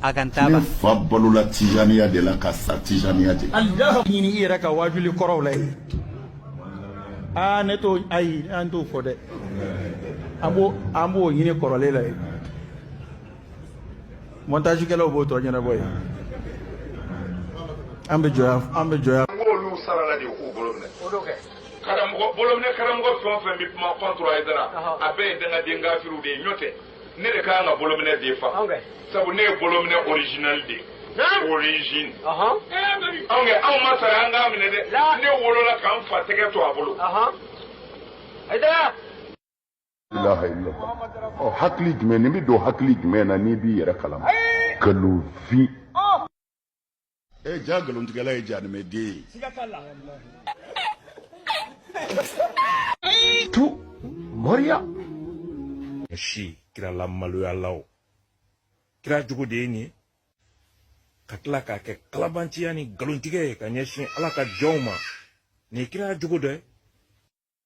a kan taaba ne fa balola tijaniya de la ka sa tijaniya de ɲini i yɛrɛ ka waajuli kɔrɔw la yen aa ne t'o ayi an t'o fɔ dɛ an b'o an b'o ɲini kɔrɔlen la yen montage kɛlaw b'o tɔ ɲɛnabɔ yen an bɛ jɔya an bɛ jɔya n k'olu sarala de k'u bolo minɛ o don kɛ karamɔgɔ bolo minɛ karamɔgɔ fɛn o fɛn bɛ kuma contre Haidara a bɛɛ ye dangaden kafiriw de ye n'o tɛ ne de ka kan ka bolominɛ défend sabu ne ye bolominɛ original de origine anw kɛ anw ma sara an k'a minɛ dɛ ne wolola ka n fa tɛgɛ to a bolo ilaha illallah ɔ hakili jumɛn nin bɛ don hakili jumɛn na n'i b'i yɛrɛ kalama nkalon fin ɛ ja nkalontigɛla ye janimɛden ye siga t'a la tu moriya si kira la maloyalaw kira jogo de ye nin ye ka tila k'a kɛ kalabanciya ni nkalontigɛ ye ka ɲɛsin ala ka jɔnw ma nin ye kira jogo dɔ ye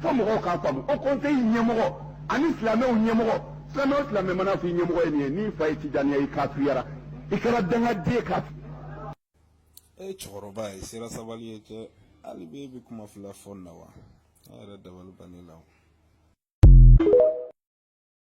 fo mɔgɔw k'a faamu haut conseil ɲɛmɔgɔ ani silamɛw ɲɛmɔgɔ silamɛ o silamɛ mana f'i ɲɛmɔgɔ ye nin ye n'i fa ye tijaniya i kafiriyara i kɛra dangaden ye kafiri e ye cɛkɔrɔba ye sera sabali ye cɛ hali bi e bɛ kuma fila fɔ na wa ne yɛrɛ dabali banni la o